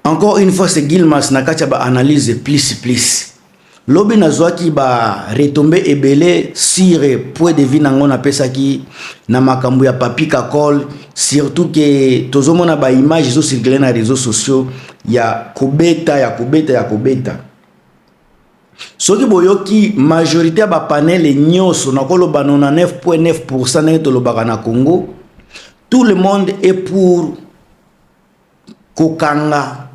Encore une fois, c'est Gilmas na kati ya ba analyse plus plus. Lobi nazwaki ba retombées ebele sur point de vue nango napesaki na makambo ya Papi Kakol, surtout que tozomona ba images ezo circuler na réseaux sociaux ya kobeta ya kobeta ya kobeta. Soki boyoki majorité ya ba panels nyonso nakoloba 99.9% ndenge tolobaka na Congo, tout le monde est pour kokanga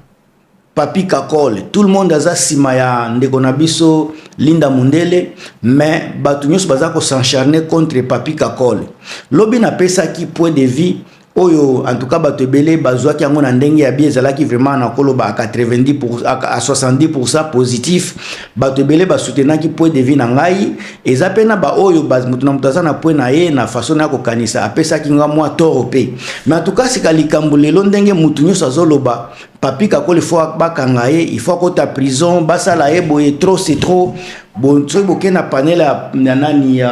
Papy Kakol tout le monde aza sima ya ndeko na biso Linda Mundele mais batu nyoso baza ko s'encharner contre Papy Kakol lobi na pesaki point de vue oyo en tout cas bato ebele bazwaki yango na ndenge ya bien ezalaki vraiment na koloba à 90 pour, à 70% positif bato ebele ba soutenaki point de vue na ngai eza pe na ba oyo ba moto na moto aza na point na ye na façon na ko kanisa apesaki nga mwa toro pe mais en tout cas sika likambo lelo ndenge moto nyonso azoloba papi kakoli fo bakanga ye il faut akota prison basala ye boye trop c'est trop bon soki boke na panel ya nani ya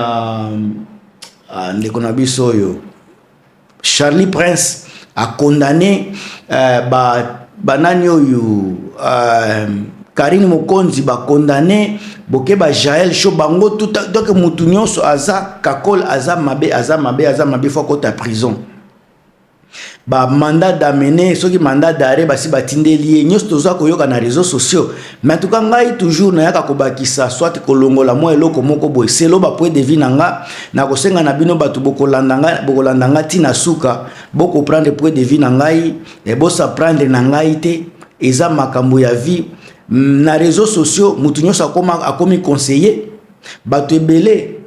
ah, ndeko na biso oyo Charlie Prince a condamné euh, ba banani oyo euh, Karine Mokonzi ba condamné boke ba Jaël Cho bango tout donc mutu nyonso aza kakol aza mabe aza mabe aza mabe faut kota prison ba mandat d'amener soki mandat d'arrêt basi batindeli ye nyonso toza koyoka na réseaux sociaux Mais en tout cas ngai toujours nayaka kobakisa soit kolongola mwa eloko moko boye selo ba point de vue na nga na kosenga na bino bato bokolanda nga bokolanda nga ti na suka boko prendre point de vue na ngai e bosa prendre na ngai te eza makambo ya vie na réseaux sociaux moto nyonso akoma akomi conseiller bato ebele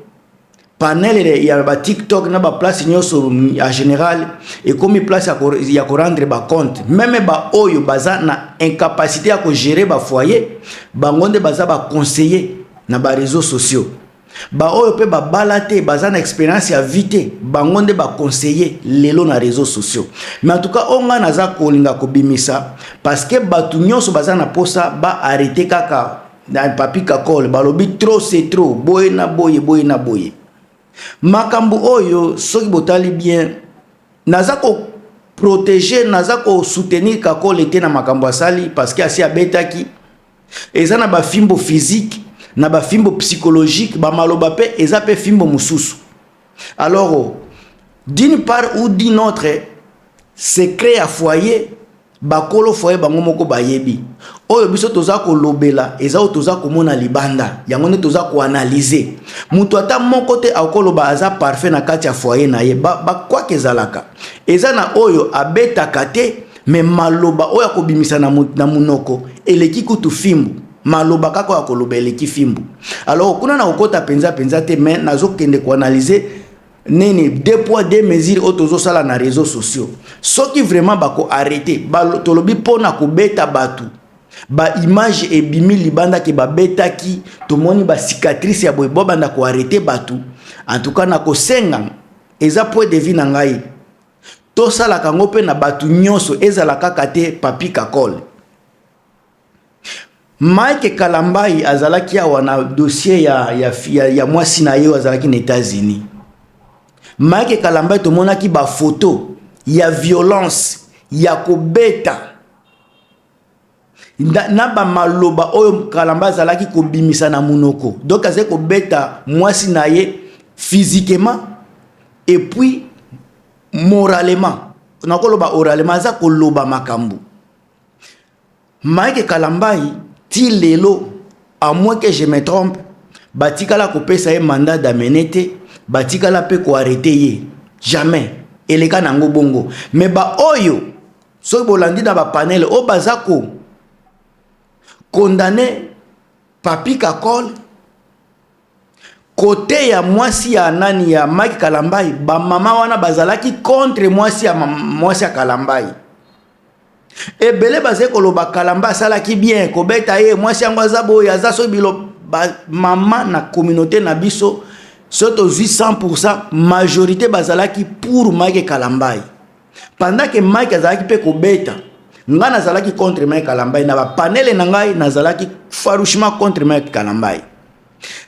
panel ya ba tiktok na ba place nyonso en général ekomi place ya korendre ba compte meme ba oyo baza na incapacité ya kogere ba foyer bango nde baza ba conseiller na ba réseaux sociaux baoyo mpe babala te baza na experience ya vie te bango nde baconseille lelo na réseau sociaux mais en tout cas oyo ngai naza kolinga kobimisa parce que bato nyonso baza na mposa baarrete kaka na papi kakol balobi trop c'est trop boye na boye boye na boye makambo oyo soki botali bien naza ko protege naza ko soutenir kakol ete na makambo asali parce que asi abetaki eza na bafimbo physique na bafimbo psychologique bamaloba mpe eza mpe fimbo mosusu alors d'une part ou d'une autre secret ya foyer Ba kolo foyer bango moko bayebi. Oyo biso toza ko lobela eza oyo toza ko mona libanda. Yango nde toza ko analyser. Mutu ata moko te ako loba aza parfait na kati ya foyer na ye. Ba ba quoi que ezalaka. Eza na oyo abetaka te mais maloba oyo ako bimisa na na munoko eleki kutu fimbu. Maloba kaka oyo ako loba eleki fimbu. Alors kuna nako kota penza penza te mais nazo kende ko analyser nini deux poids deux mesures oyo tozosala na réseaux sociaux soki vraiment bako arrete tolobi mpo na kobeta bato baimage ebimi libanda ke babetaki tomoni bacicatrice ya boye bobanda koarrete bato en tout cas na kosenga eza point de vie na ngai tosalaka yango mpe na bato nyonso ezala kaka te papi kakole Mike Kalambayi azalaki awa na dossier ya, ya, ya, ya mwasi na ye azalaki na Etats-Unis. Mike Kalambayi tomonaki ba photos ya violence ya kobeta na, na ba maloba oyo Kalamba azalaki kobimisa na munoko. Donc azali kobeta mwasi na ye physiquement et puis moralement. Nakoloba oralement aza koloba makambo Mike Kalambay ti lelo à moins que je me trompe batikala kopesa ye mandat d'amener te batikala mpe ko arrete ye jamais eleka na yango bongo mais baoyo soki bolandi na bapanele oyo baza ko condamne papi kakol Cote ya mwasi ya nani ya Mike Kalambay ba mama wana bazalaki contre mwasi ya mwasi ya Kalambay. Ebele bazali koloba Kalamba asalaki bien kobeta ye mwasi yango aza boye aza so bilo ba mama na communauté na biso so tozwi 100% majorité bazalaki pour Mike Kalambay. pendant que Mike azalaki pe kobeta ngai nazalaki contre Mike Kalambay na ba panele na ngai nazalaki farouchement contre Mike Kalambay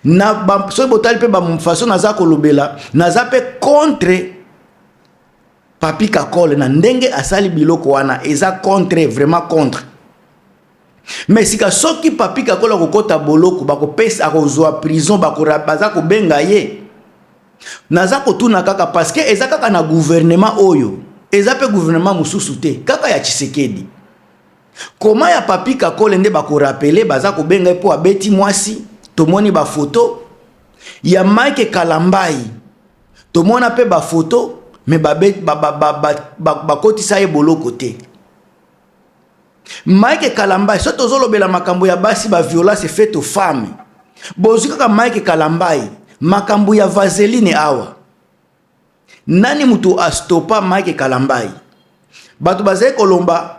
na ba soki botali pe ba façon naza kolobela naza pe contre Papi Kakole na ndenge asali biloko wana eza contre vraiment contre Mais sika soki papy kakol akokota boloko bakopesa akozwa prison bako baza kobenga ye naza kotuna kaka parce que eza kaka na gouvernement oyo eza pe gouvernement mosusu te kaka ya tshisekedi koma ya papy kakole nde bakorapele baza kobenga ye mpo abeti mwasi tomoni bafoto ya mike kalambai tomona mpe bafoto me bakotisa ye boloko te Mike Kalambay soki tozolobela makambo ya basi ba violence fait aux femmes bozwi kaka Mike Kalambay makambo ya vaseline awa nani moto astopa Mike Kalambay bato bazali kolomba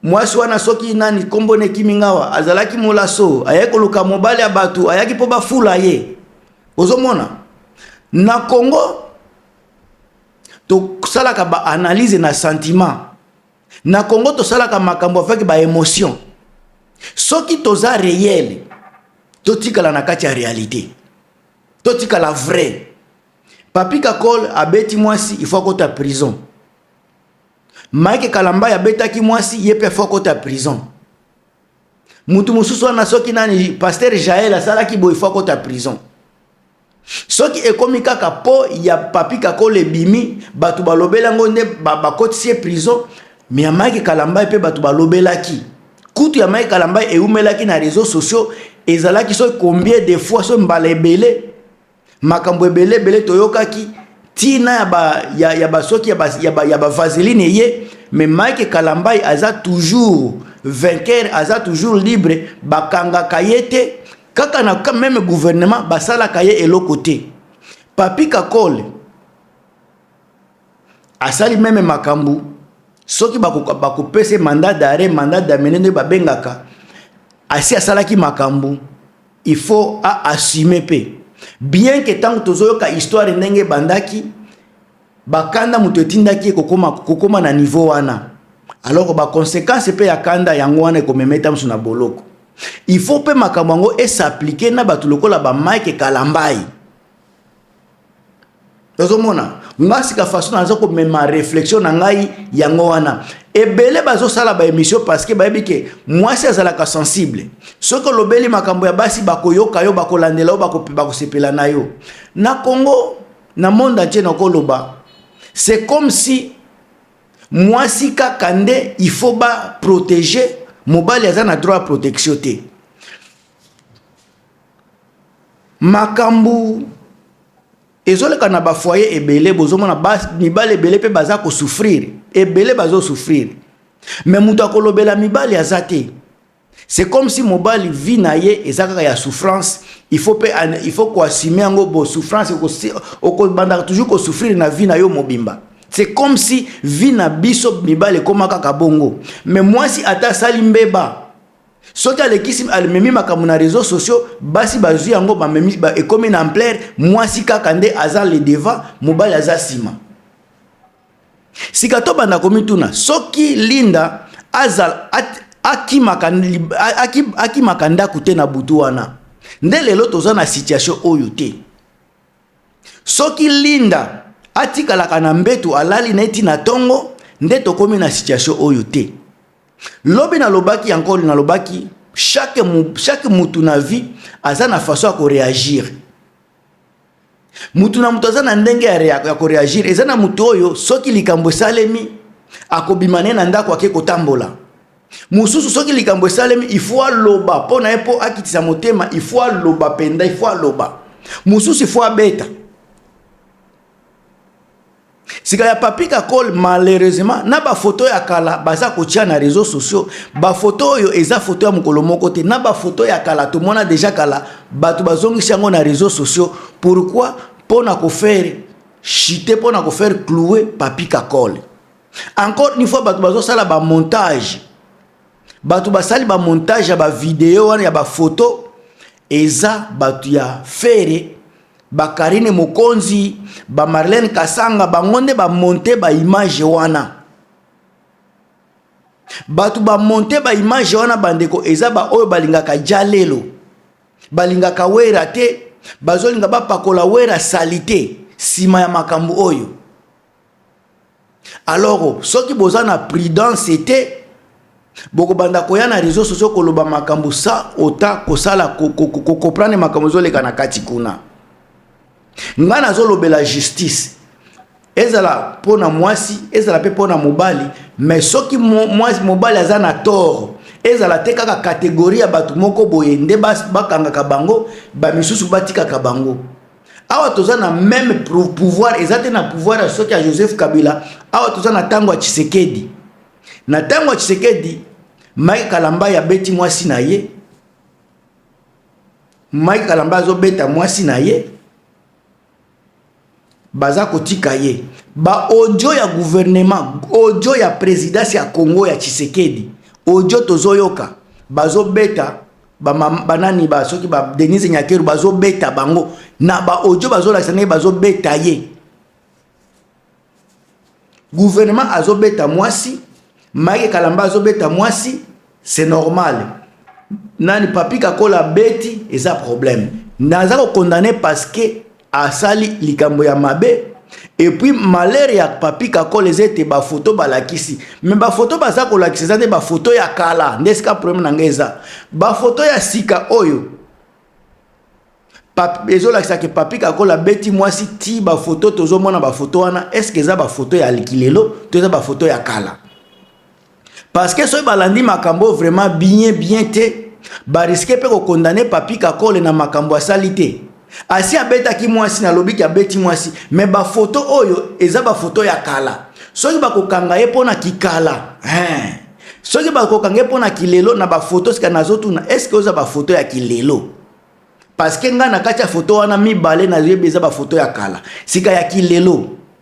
mwasi wana soki nani nkombo na ekimi ngawa azalaki molaso ayaki koluka mobali ya bato ayaki mpo bafula ye ozomona na Congo tosalaka baanalyse na sentiment Na Congo tosalaka makambo avec ba emotion. Soki toza réel, totikala na kati ya réalité. Totikala vrai. Papi Kakol abeti mwasi, il faut akota prison. Mike Kalambay abetaki mwasi, ye pe faut akota prison. Mutu mosusu wana soki nani Pasteur Jael asalaki boye, il faut akota prison. Soki ekomi kaka po ya papy kakol ebimi batu balobeli yango nde bakotisi ye prison mais ya mike kalambay pe batu balobelaki kutu ya mike kalambay ewumelaki na reseaux sociaux ezalaki soki combien de fois soki mbala ebele makambo ebele ebele toyokaki ti na ya ba ya ya ba soki ya ba ya ba ya ba vaseline eye mais mike kalambay aza toujours vainqueur aza toujours libre bakangaka ye te Kaka na ka meme gouvernement basalaka ye eloko te. Papi Kakol asali meme makambo soki bakopesa ye mandat d'arrêt, mandat d'amener nde babengaka asi asalaki makambo il faut a assumer mpe bien que ntango tozoyoka histoire ndenge ebandaki Ba kanda moto etindaki ye kokoma, kokoma na niveau wana. Alors ba consequences pe ya kanda yango wana ekomemeta mosu na boloko. Il faut pe makambo yango e s'appliquer na bato lokola ba Mike Kalambayi. Tozomona nga sika façon naza komema réflexion na ngai yango wana ebele bazosala ba émission parce que bayebi ke mwasi azalaka sensible soki olobeli makambo ya basi bakoyoka yo bakolandela yo bakosepela na yo na Congo Na monde entier nako loba c'est comme si muasi kaka nde il faut ba proteger mobali aza na droit ya protection te makambu ezoleka na ba foyer ebele bozomona mibali ebele pe baza ko souffrir ebele bazo souffrir mais moto akolobela mibali aza te C'est comme si mobali vie na ye eza kaka ya souffrance, il faut pe il faut ko assumer yango bo souffrance oko banda toujours ko souffrir na vie na yo mobimba. C'est comme si vie na biso mibali ekoma kaka bongo. Mais mwasi ata asali mbeba soki alekisi alimemi makambo na réseaux sociaux basi bazwi yango bamemi ba, ekomi na ampleur mwasi kaka nde aza le devant mobali aza nsima Sika tobanda komituna soki Linda azala akimaka akimaka ndako te na butu wana nde lelo toza na situation oyo te soki Linda atikalaka na mbetu alali na eti na tongo nde tokomi na situation oyo te lobi nalobaki ya nkolo nalobaki chaque, chaque mutu na vie aza na façon ya koreagir Mutu na mutu aza na ndenge ya, rea, ya koreagir. Eza na mutu oyo soki likambo esalemi akobima naye na ndako ake kotambola. Mosusu soki likambo esalemi il faut aloba mpo na ye mpo akitisa motema, il faut aloba mpenza, il faut aloba. Mosusu il faut abeta. sika ya papi kakol malheureusement na bafoto ya kala baza kotia na réseau sociaux bafoto oyo eza foto ya mokolo moko te na bafoto ya kala tomona deja kala bato bazongisi yango na réseau sociaux pourquoi mpo na kofaire chite mpo na kofaire cloue papi kakol encore une fois bato bazosala bamontage bato basali bamontage ya bavideo wana ya bafoto eza bato ya fere ba Carine Mokonzi, ba Marlène Kasanga, bango nde ba monte ba image wana. Bato ba monte ba image wana bandeko eza ba oyo balingaka Jalelo, balingaka Wera te, bazolinga bapakola Wera salite nsima ya makambo oyo. Aloro soki boza na prudence te bokobanda koya na reseau sociaux koloba makambo sa ota kosala kokoprane makambo ezoleka na kati kuna ngai nazolobela justice ezala mpo na mwasi ezala mpe mpo na mobali me soki mwasi mobali aza na toro ezala te kaka kategori ya bato moko boye nde bakangaka bango bamisusu batikaka bango awa toza na meme pouvoir eza te na pouvoir ya soki ya joseph kabila awa toza na ntango ya tshisekedi na ntango ya tshisekedi mike kalambay abeti mwasi na ye mike kalambay azobeta mwasi na ye baza kotika ye baaudio ya guvernema audio ya presidence ya congo ya tshisekedi audio tozoyoka bazobeta ba banani ba soki ba Denise Nyakeru bazo beta bango na ba audio bazo lakisa ndenge bazo beta ye gouvernement azo beta mwasi Mike Kalamba azo beta mwasi c'est normal nani Papi Kakola beti eza problème naza ko condamner parce que asali likambo ya mabe epuis malere ya papi kakol eza ete bafoto balakisi me bafoto baza kolakisa eza nde bafoto ya kala nde esika probleme na ngai eza bafoto ya sika oyo ezolakisa ke papi kakol abeti mwasi ti bafoto tozomona bafoto wana eske eza bafoto ya likilelo to eza bafoto ya kala parce que soki balandi makambo oyo vraiment bien bien te bariske mpe kokondane papi kakole na makambo asali te asi abetaki mwasi nalobi ke abeti mwasi me bafoto oyo eza bafoto ya kala soki bakokanga ye mpo na kikala hein. soki bakokanga ye mpo na kilelo na bafoto sika nazotuna eske oza bafoto ya kilelo parce que ngai na kati ya foto wana mibale nayebi eza bafoto ya kala sika ya kilelo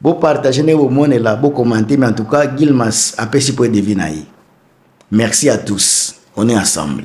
bo partage ndenge bomonela bo commente mais en tout cas gilmas apesi point de vue na ye merci à tous on est ensemble